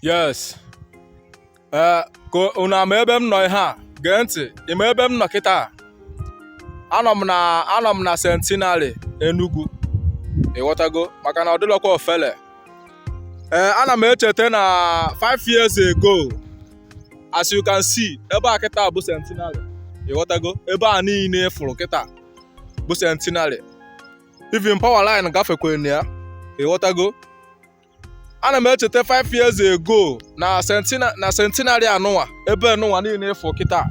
yes ee ka unu ama ebe m nọ ị ya-ege ntị ịma ebe m nọ kịta anọ m na anọ m na centenary Enugu ịghọtago maka na ọ dịlọkwa ofele ee ana m echeta na 5 years ago as you can see ebe a kịta bụ centenary ịghọtago ebe a niile ị fụrụ kịta bụ centenary even power line gafekwa na ya ịghọtago ana m echeta 5 years ago na sentina na centenary anụnwa ebe nụnwa niile ị fụ kịta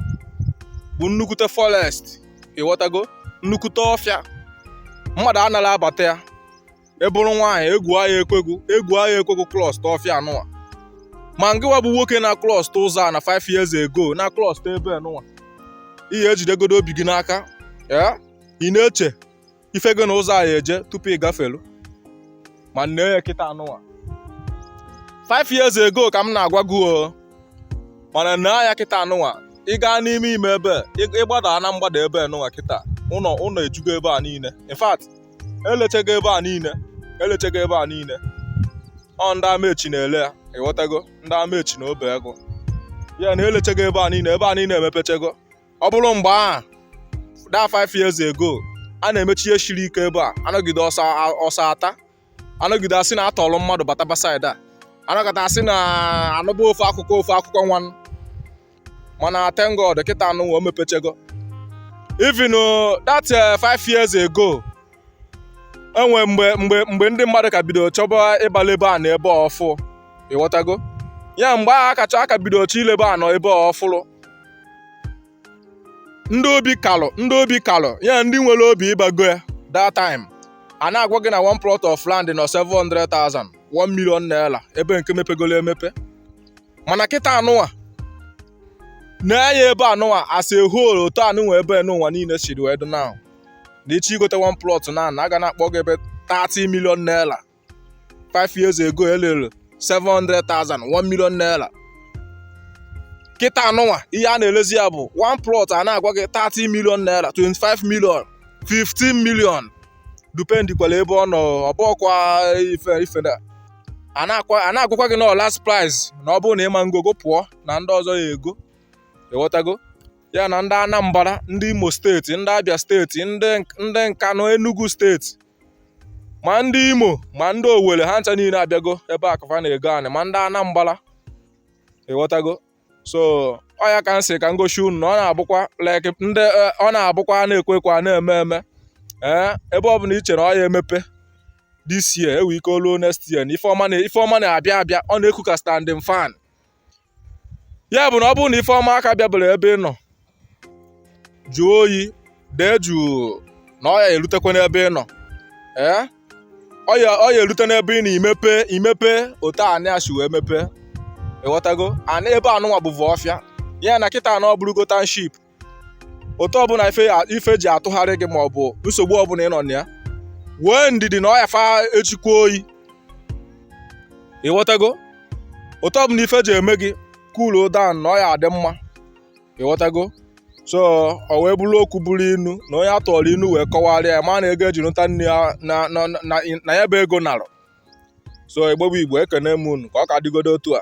bụ nnukwute forest ịghọtago nnukwute ọfịa mmadụ anarọ abata ya ị bụrụ nwaanyị egwu aya ekwe gị egwu aya ekwe gị cross ọfịa anụnwa ma ngịwa bụ nwoke na cross ụzọ a na 5 years ago na cross ebe nụnwa ị ya-ejidegodo obi gị n'aka ya ị na-eche ife gị na ụzọ a ya-eje tupu ị gafelu ma nee ya kịta anụwa 5 years ago ka m na-agwa gị o mana nee ya kịta anụwa ị gaa n'ime ime ebe ị gbada na mgbada ebe nụwa kịta ụlọ ụlọ ejugo ebe a niile in fact elechego ebe a niile elechego ebe a niile ọ ndị amechi na-ele ya ịghọtago ndị amechi na obeagu ya na elechego ebe a niile ebe a niile emepechego ọ bụrụ mgbe a that five years ago a na-emechi ihe shiri ike ebe a anọgide ọsọ ọsọ ata anọgide asị na atọrọ mmadụ bataba side a anọkata asị na anụba ofe akụkọ ofe akụkọ nwa mana thank God kịta anụwa o mepechego even uh, that uh, five years ago enwere mgbe mgbe mgbe ndị mmadụ ka bidoro chọba ịgbala ebe a na ebe a ọfụ ịghọtago ya mgbe ahụ a ka chọọ a ka bidoro chọ ilebe anị ebe a ọfụrụ ndị obi kalụ ndị obi kalụ ya ndị nwere obi ịba go ya that time a na-agwa gị na one plot of land nọ 700,000 1 million naira ebe nke mepegolo emepe mana kịta anụwa nee anya ebe anụwa as a whole otu anụnwa ebe nụnwa niile siri wee dị now na ị chọọ igote one plot na na a ga na-akpọ gị ebe 30 million naira 5 years ago elere 700,000 1 million naira kịta anụnwa ihe a na-elezi ya bụ one plot a na-agwa gị 30 million naira 25 million 15 million dependikwala ebe ọ nọ ọ bụkwa ife ife na a na-akwa- a na-agwakwa gị na ọ last price na ọ bụrụ na ịma ngogo pụọ na ndị ọzọ ya-ego ịghọtago ya na ndị anambra ndị imo steeti ndị abịa steeti ndị ndị nkanụ enugu steeti ma ndị imo ma ndị owere ha ncha niile abịago ebe a ka fa na-ego anị ma ndị anambra ịghọtago so ọ ya ka m sị ka m gosi unu na ọ na-abụkwa like ndị eh, ọ na-abụkwa a na-ekwu ekwu a na-eme eme ee eh, ebe ọ bụla i chere na ọ ya emepe this year e nwee ike o lu next year na ife ọma na-abịa abịa ọ na-eku ka standing fan ya bụ na ọ bụrụ na ife ọma aka bịaberọ ebe ị nọ jụọ oyi dee jụụ na ọ ya erutekwa n'ebe ị nọ ee ọ ya ọ ya erute n'ebe ị na imepe imepe otu anị a si wee mepe ịghọtago anị ebe anụnwa bụvu ọfịa ya na kịta na ọ bụrụgo township otu ọbụla ife ife ji atụgharị gị maọbụ nsogbu ọbụla ị nọ na ya nwee ndidi na ọ ya fa echikwa oyi ịghọtago otu ọbụla ife ji eme gị cool down na ọ ya adị mma ịghọtago so ọ wee bụrụ okwu bụrụ inu na onye a tụọrọ inu wee kọwarịa ya ma na ego e ji nụta nne ya na ya bụ ego narọ so igbo bụ igbo ekene m unu ka ọ ka dịgodo otu a